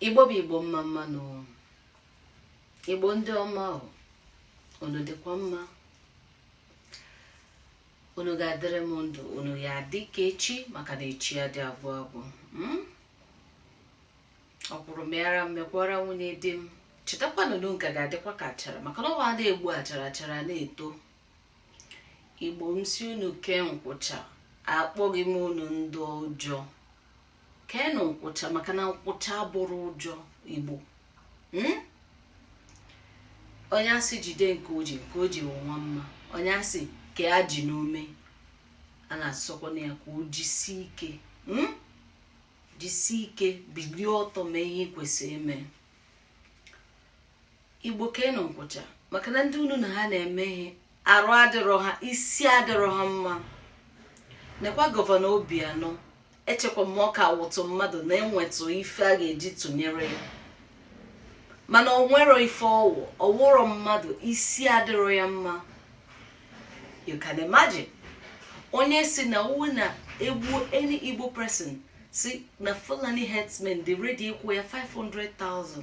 igbo bụ igbo mma mma nụ igbo ndị ọma unu dịkwa mma unu ga-adịrị m ndụ unu ya-adị ka echi maka na echi adị agwụ agwụ hmm? ọkwụrụ mịara m mịkwaara nwunye di m chetakwanụ na nka ga-adịkwa ka achara maka na ọ wụ a na-egbu achara achara na-eto igbo m sị unu kee nkwụcha akpọghị m unu ndị ọjọọ keenụ nkwụcha maka na nkwụcha abụrọ ụjọ igbo hmm? onye a sị jide nke o ji nke o ji nwa mma onye a sị kee ajị n'ume a na-asịkwanụ ya ka o jisie ike hmm? jisie ike bilie ọtọ mee ihe kwesịrị ime igbo keenụ nkwụcha maka na ndị unu na ha na-eme ihe arụ adịrọ ha isi adịrọ ha mma nekwa gọvanọ obianọ echekwa m ọ ka wụtụ mmadụ na-enwetụ ife a ga-eji tụnyere ya mana o nwerọ ife ọ wụ ọ wụrọ mmadụ isi adịrọ ya mma you can imagine onye sị na ọ wụ na egbuo any igbo person sị na fulani herdsmen dị ready ịkwụ ya 500,000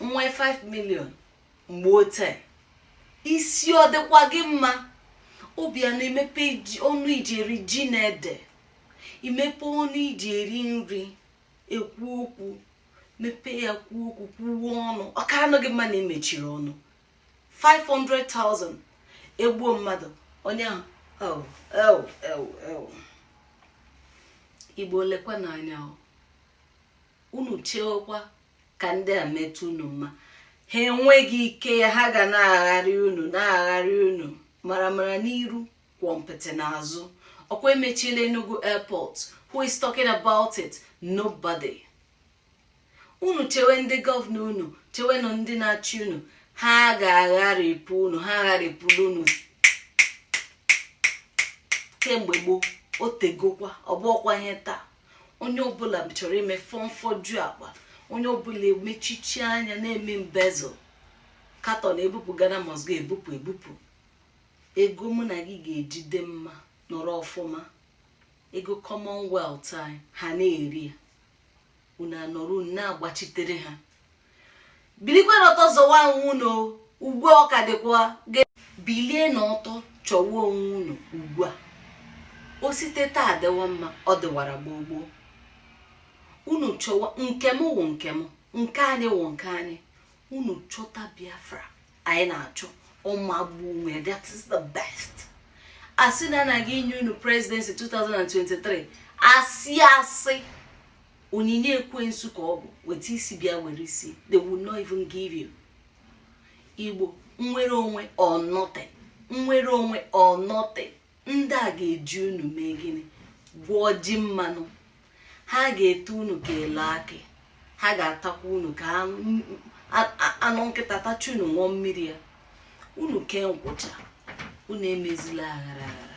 nwee 5 million mgbe ote isi ọ dịkwa gị mma obianọ imepe ọnụ i ji eri ji na ede imepe ọnụ i ji eri nri ekwu okwu mepee ya kwuo okwu kwuo ọnụ ọ kaanụ gị mma na i mechiri ọnụ 500,000 egbuo mmadụ onye ahụ igbo lekwanụ anya unu chewekwa ka ndị a meta unu mma ha enweghị ike ya ha ga na-agharị unu na-agharị unu maramara n'iru kwọmpịtị n'azụ ọ kwa emechiela Enugu airport who is talking about it nobody unu chewe ndị gọvanọ unu chewenụ ndị na-achị unu ha ga-agharịpụ unu ha agharịpụla unu kemgbe gboo o tegokwa ọ bụọkwa ihe taa onye ọbụla chọrọ ime fọmfọju akpa onye ọbụla emechichi anya na-eme embezzle carton ebupụ ghana must go ebupụ ebupụ ego mụ na gị ga-eji dị mma nọrọ ọfụma ego commonwealth anyị ha na-eri ya unu anọrọ unu na-agbachitere ha bilikwenụ ọtọ zọwa onwe unu ugbu a ọ ka dịkwa bilienụ ọtọ chọwa onwe unu ugbu a o site taa adịwa mma ọ dịwara gboo gboo unu chọwa nke m wụ nke m nke anyị wụ nke anyị unu chọta biafra anyị na-achọ ọ magbuo onwe that is the best a sị na anaghị enye unu presidency 2023 asị asị onyinye ekwensu ka ọ bụ weta isi bịa were isi they will not even give you igbo nnwere onwe or nothing nnwere onwe or nothing ndị a ga-eji unu mee gịnị gwọọ ji mmanụ ha ga-ete unu ka elu akị ha ga-atakwa unu ka anụ nkịta tacha unu ṅụọ mmiri ya unu kee nkwụcha unu emezila aghara aghara